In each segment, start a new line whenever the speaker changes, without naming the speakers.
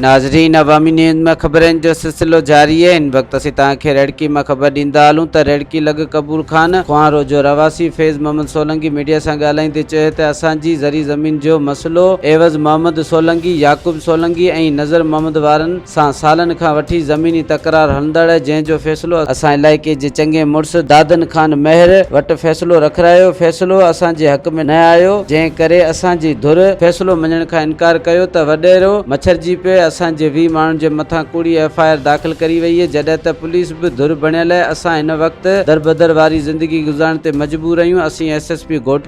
ناظرين عوامي نيوز ۾ خبرن جو سلسلو جاري آهي ان وقت اسين توهان کي ريڙڪي مان خبر ڏيندا هلون ته ريڙڪي لڳ قبول خان کوهانرو جو رهواسي فيض محمد سولنگي ميڊيا سان ڳالهائيندي چيو ته اسان جي زرعي زمين جو مسئلو عيوض محمد سولنگي يعقوب سولنگي ۽ نظر محمد وارن سان سالن کان وٺي زميني تڪرار هلندڙ آهي جنهن جو فيصلو اسان علائقي جي چڱي مڙس دادن خان مهر وٽ فيصلو رکرايو فيصلو اسان جي حق ۾ نه آيو جنهن ڪري اسان جي ڌر فيصلو مڃڻ کان انڪار ڪيو ته وڏيرو مڇرجي پئي اسان جي ويهه ماڻهن جي مٿان ڪوڙي ايف آء آر داخل ڪري وئي هئي جڏهن ته پوليس به ڌر بڻيل آهي اسان هن وقت دربدر واري زندگي گذارڻ تي مجبور اهيون اسين ايس ايس پي گهوٽ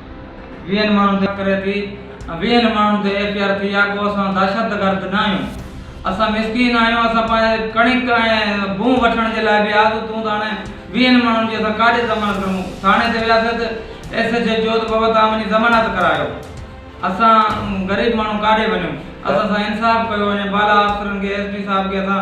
ويهن ماڻهن تي ڪري ٿي ۽ ويهن ماڻهن تي ايف اي آر ٿي آهي پوء اسان دهشتگرد ناهيون اسان مسڪين آهيون اسان پنهنجي ڪڻڪ ۽ بون وٺڻ جي لاء به آزو ٿيون ته هاڻي ويهن ماڻهن جي اسان ڪاڄي ضمانت ڪريون ٿاڻي تي وياسي ته ايس ايچ او چيو ته بابا توهان وڃي ضمانت ڪرايو اسان غريب ماڻهو ڪاڏي وڃون اسان سان انصاف ڪيو وڃي بالا آفيسرن کي ايس پي صاحب کي اسان